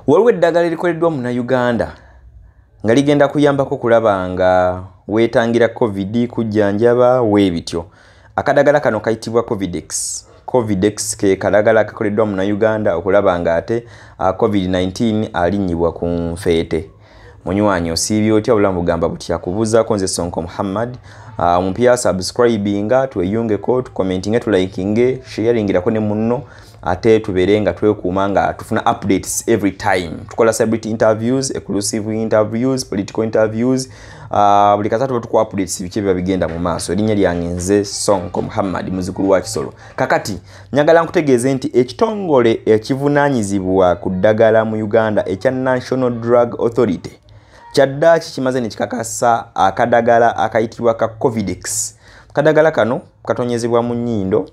waliwo eddagala erikoleddwa muna uganda nga ligenda kuyambako okulaba nga wetangira covid kujjanjaba weebityo akadagala kano kayitibwa covidex covidex ke kadagala kakoleddwa muna uganda okulaba nga ate ah, covid-19 alinnyibwa ku nfeete munywanyi osiibye otya obulamu bugamba butya kubuuzaako nze sonko muhammad ah, omupya uh, subscribinga tweyungeko tucommentinge tulikinge sharingirako ne munno ate tubeere nga twekuuma nga tufuna updates every time tukola celebrity interviews exclusive interviews political interviews ah, buli uh, kasa tuba tuku updates biki biba bigenda mu maaso erinnya lyange nze sonko muhammad muzukulu wa kisolo kakati Nyagala nkutegeeze nti ekitongole ekivunaanyizibwa ku ddagala mu Uganda ekya National Drug Authority kyaddaaki kimaze ne kikakasa akadagala akayitibwa ka Covidex. Kadagala kano katonyezebwa mu nnyindo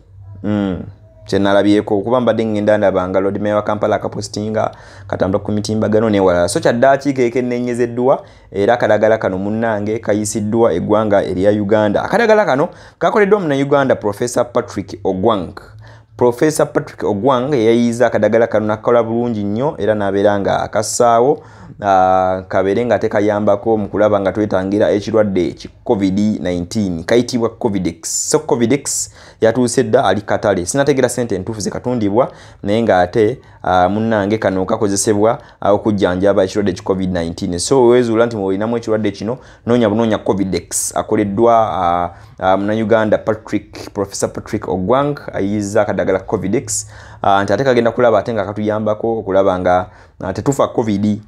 mm, kye nalabyeko okuba mbadde ngenda ndaba nga Lord Mayor wa Kampala akapositinga katambula ku mitimbagano n'ewalala so kyaddaaki keekenneenyezeddwa era akadagala kano munnange kayisiddwa eggwanga erya uganda akadagala kano kakoleddwa munauganda profesa patrick ogwang profesa patrick ogwang eyayiiza akadagala kano nakakola bulungi nnyo era nabeera nga akassaawo ah, kabeere nga tekayambako mu kulaba nga twetangira ekirwadde ki covid-19 kayitibwa covidex so covidex yatuuse dda ali katale sinategeera sente entuufu zekatundibwa naye ngaate Ah, munnange kano kakozesebwa ah, okujjanjaba ekirwadde ki covid-19 so wezuula nti muolinamu ekirwadde kino noonya bunoonya covidex akoleddwa ah, munauganda patrick professor patrick ogwang ayiyiza akadagala covidex nti ate kagenda kulaba ate nga katuyambako okulaba nga tetufa covid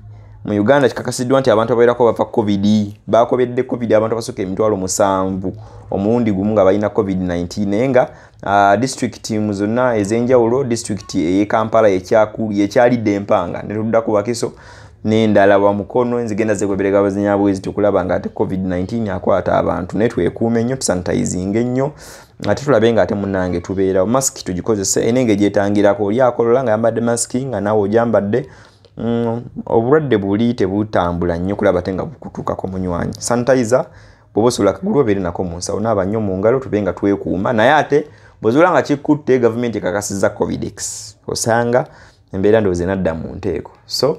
mu uganda kikakasiddwa nti abantu abawerako bava covid bakobedde covid abantu abasooka emitwalo musanvu omulundi gumu nga balina covid-19 naye nga Uh, disitulikiti mu zonna ez'enjawulo disitulikiti ey'e kampala yekyalidde empanga ne tudda ku bakiso n'endala wa mukono enzigenda zegoberega abazinya bwezi tukulaba nga ate covid-19 akwata abantu naye twekuume nnyo tusanitayizinga ennyo ate tulabe nga ate munange tubeerawo masiki tugikozese ena engeri gyetangirako oli akolola nga yambadde masiki nga naawe ogyambadde mm, obulwadde buli tebutambula nnyo kulaba te nga bukutuukako munywanyi sanitayiza bwoba osobola akagulu obeere nako mu nsawo naaba nnyo mu ngalo tube nga twekuuma naye ate bwezuula nga kikutte gavumenti ekakasiza covidex osanga embeera ndowooza enadda mu nteeko so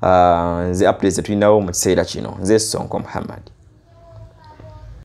uh, nze updates zetulinawo mu kiseera kino nze sonko muhammad